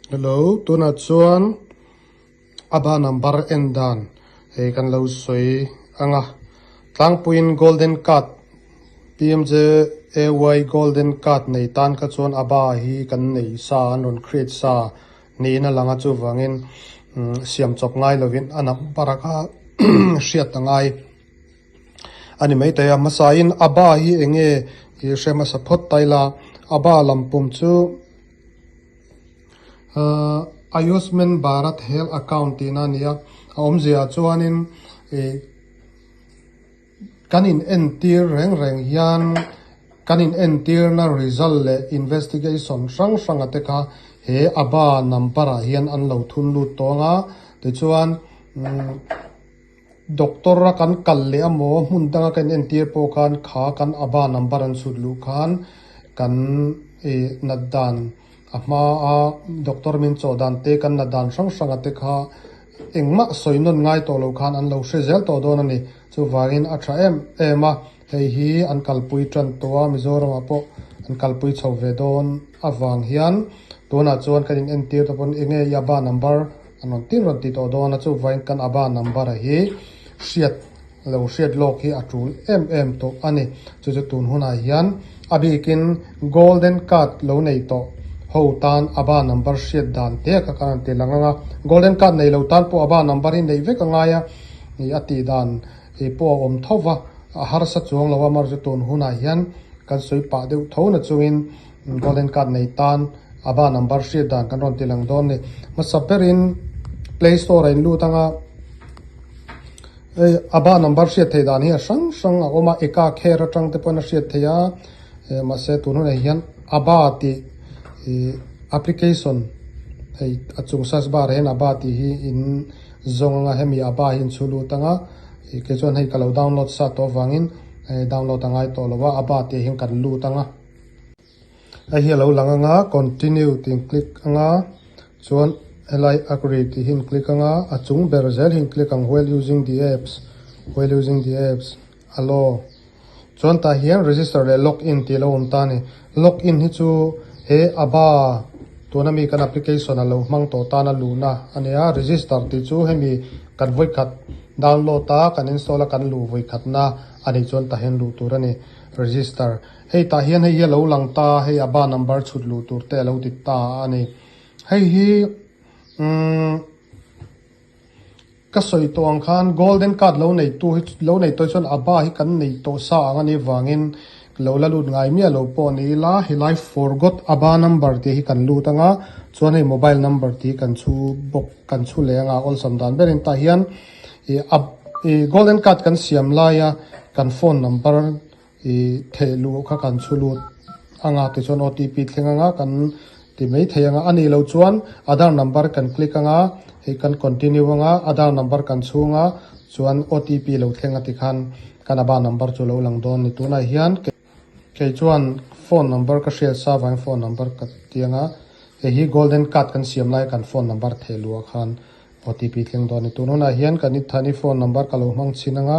Hello, tunah chuan Aba number en dan hei kan lo sawi ang a, tlangpuiin golden card PMJAY golden card nei tan kha chuan Aba hi kan nei sa an rawn create sa niin a lang a, chuvangin umm siam chawp ngai lovin a number kha hriat ta ngai. A ni maithei a hmasain a ba hi eng nge tih a hre hmasa phawt ta ila a ba lam pum chu aah Ayushman Bharat Health Account tihna a ni a a awmzia chuanin ih kan in entir reng reng hian kan in entirna result leh investigation hrang hrang a te kha he a ba number ah hian an lo thun lut tawng a tichuan umm-- Doctor a kan kal leh a maw, hmun danga ka in entir pawh khan kha kan aba number an chhut luh khan kan nat dan a hma a, doctor min chaw dan te kan na dan hrang hrang a te kha engmah sawi nawn ngai tawh lo khan an lo hre zel tawh dawn a ni, chuvangin a tha em em a. Hei hi an kalpui tan tawh a, Mizoramah pawh an kalpui chho ve dawn avang hian tunah chuan kan in entir te pawn enge i aba number an rawn tin rawn ti tawh dawn a, chuvaiin kan aba number a hi hriat lo hriat lawk hi a tul em em tawh a ni. Chu chu tun hunah hian a bikin golden card lo nei tawh ho tan aba number hriat dan teh kha kan rawn ti lang ang a, golden card nei lo tan pawh aba number hi neih vek a ngai a, ih a tih dan. Kei pawh a awm tho va, a harsa chuang lo a, Marzu tawn hunah hian kan sawi pah deuh tho na chungin Golden Card nei tan a ba number hriat dan kan rawn ti lang dawn ni. Hmasa berin Play Store-ah a in lut ang a, a ba number hriat theih dan hi a hrang hrang a awm a, eka kher atang te pawhin a hriat theih a, mahse tun hunah hian a ba tih application hei a chung search bar ah hian a ba tih hi in-- zawng anga hemi a pa hi an chhu lut ang a, ih kei chuan hei ka lo download sat tawh avangin eh download a ngai tawh lo va, a pa tih ahin kan lut ang a. Hei hi a lo lang ang a, continue tih in click ang a, chuan helai agree tih hi in click ang a, a chung ber zel hi in click ang, while using the apps, while using the apps. Alo. Chuan tah hian register leh log in tih lo awm ta a ni. Log in hi chu he aba tuna mi kan application a lo hmang tawh tana luhna a ni a, register tih chu hemi kan vawikhat download a, kan install a kan luh vawikhatna a nih chuan tah hian luh tur a ni. Register. Hei tah hian hei hi a lo lang ta a, hei aba number chhut luh tur te a lo ti ta a ni. Hei hi umm. Ka sawi tawh ang khan golden card lo nei tu hi lo nei tawi chuan a bar hi kan nei tawh sa ang ani vangin lo la lut ngai miah lo pawh ni ila helai forgot a bar number tih hi kan lut anga chuan hei mobile number tih hi kan chhu bawk kan chhu leh anga awlsam dan ber in tah hian ih a ih golden card kan siam laia kan phone number I theih luh kha kan chhu lut anga ti chuan OTP thleng anga kan ti mai thei anga a nih loh chuan Aadhar number kan click anga hei kan continue anga Aadhar number kan chhung a chuan OTP lo thleng a ti khan kan aba number chu lo lang dawn a ni tunah hian kei chuan phone number ka hriat sa vang in phone number ka ti anga hei hi golden card kan siam lai kan phone number theih luh a khan OTP thleng dawn a ni tun hunah hian kan i than i phone number ka lo hmang chhin anga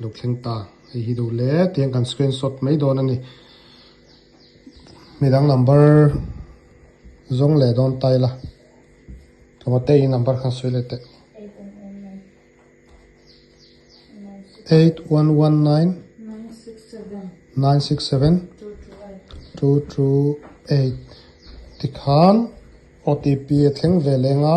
Lo thleng ta hei hi duh le tiang kan screen shot mai dawn a ni mi dang number zawng leh dawn ta ila tlawhte in number khan sawi leh teh eight one one nine nine six seven two two eight tikhan otp a thleng ve leng a.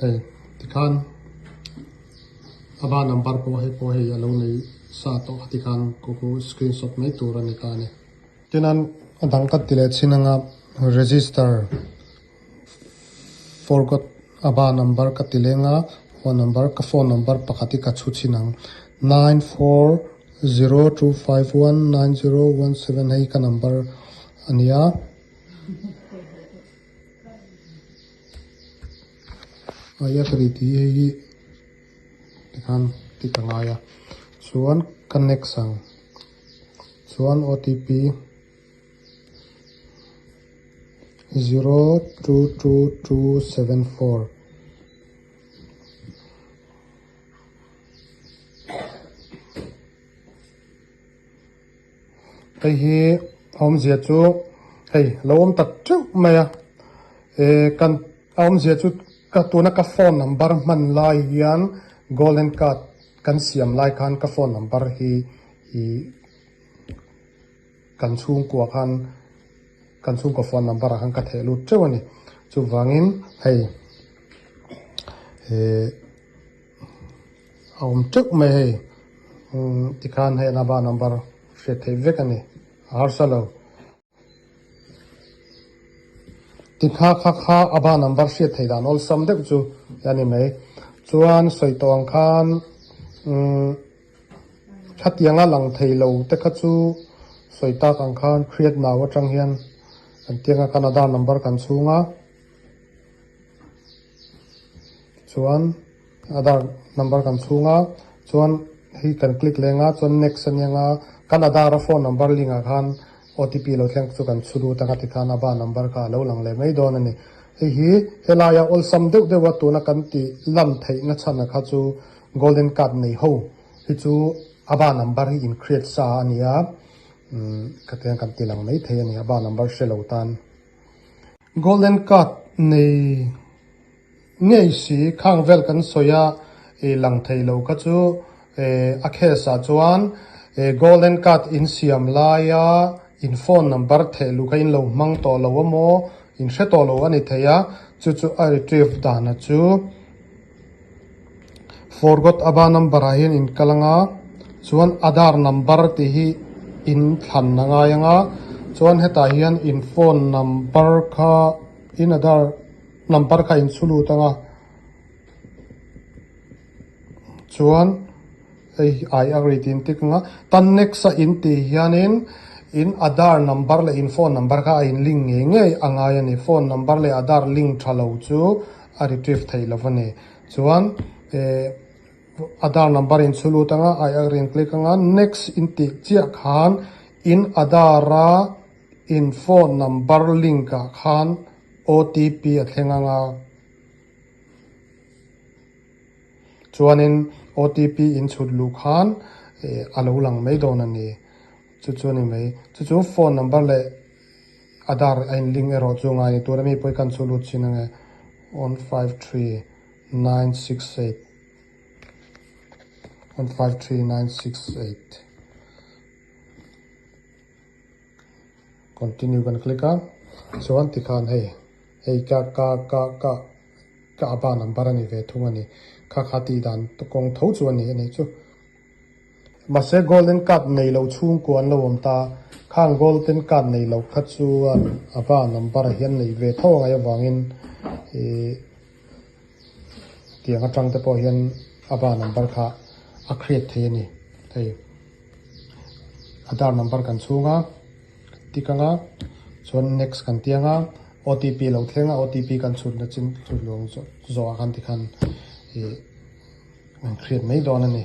hei tikhan a va number pawh hei pawh hei a lo nei sa tawh a tikhan ka ku screen shot mai tur a ni ta a ni tin an a dang ka ti leh chhin anga register forgot a va number ka ti leng a phone number ka phone number pakhat hi ka chhu chhin ang nine four zero two five one nine zero one seven hei ka number a ni a. Hei a pahnih ti hei hi tikhan tick a ngai a chuan ka next ang chuan otp zero two two two seven four Hei hi a awmzia chu hei lo awm tak teuh mai a, eh kan a awmzia chu ka tuna ka phone number hman lai hian golden card kan siam lai khan ka phone number hi ih kan chhungkua khan kan chhungkaw phone number ah khan ka theh lut teuh a ni, chuvangin hei eh. a awm teuh mai hei tikhan hei anaba number hriat theih vek a ni a harsa lo tikha kha kha aba number hriat theih dan awlsam deuh chu hi a ni mai chuan sawi tawng khan umm khatianga lang thei lo te kha chu sawi tak ang khan hriat nau atang hian kan tih anga kan ada number kan chhung a. chuan aadhar number kan chhung a chuan hi kan click leng a chuan next a nia a kan aadhar a phone number link ah khan otp lo thleng chu kan chhu lut anga tikhan ava number kha alo lang leh mai dawn a ni hei hi helaia awlsam deuh deuh a tuna kan tih lan theih na chhan ah kha chu golden card nei ho hi chu ava number hi in create sa a nia umm khatiang kan ti lang mai thei a ni ava number hre lo tan. Golden card nei ngei si khang vel kan sawi a lang thei lo kha chu a case ah chuan golden card in siam lai a in phone number theh luh kha in lo hmang tawh lo a maw in hre tawh lo a ni thei a chu chu a retrieve dan a chu. Forgot aba number ah hian in kal anga chuan aadhar number tih hi in thlan a ngai anga chuan hetah hian in phone number kha in aadhar number kha in chhu lut anga chuan hei ai agree tih in tik anga tan next a in tih hianin in aadhar number leh in phone number kha a in link ngei ngei a ngai a ni phone number leh aadhar link tha lo chu-- a retrieve thei lo va ni. Chuan eh Aadhar number in chhu lut anga aia a rawn click anga next in tih chiah khan in Aadhar a in phone number link ah khan OTP a thleng ang a, chuanin OTP in chhut luh khan eh a lo lang mai dawn a ni. Chu chu a ni mai. Chu chu phone number leh. A dar a in link erawh chu ngai ni tura mi pawi kan chhu lut chin ange one five three nine six eight one five three nine six eight continue kan click a chuan tikhan hei hei ka ka ka ka ka aba number ani ve thung ani kha kha tih dan kawng tho chu ani anih chu. Mahse goal in cut nei lo chhungkaw an lo awm ta, khang goal ten cut nei lo kha chuan a va number a hian nei ve tho a ngaih avangin ih tiang atang te pawh hian a va number kha a create thei a ni hei, Aadhar number kan chhung a. Tik anga chuan next kan ti anga otp lo thleng a otp kan chhut na chin chhut luang zawh zawh ah khan tikhan ih an create mai dawn a ni.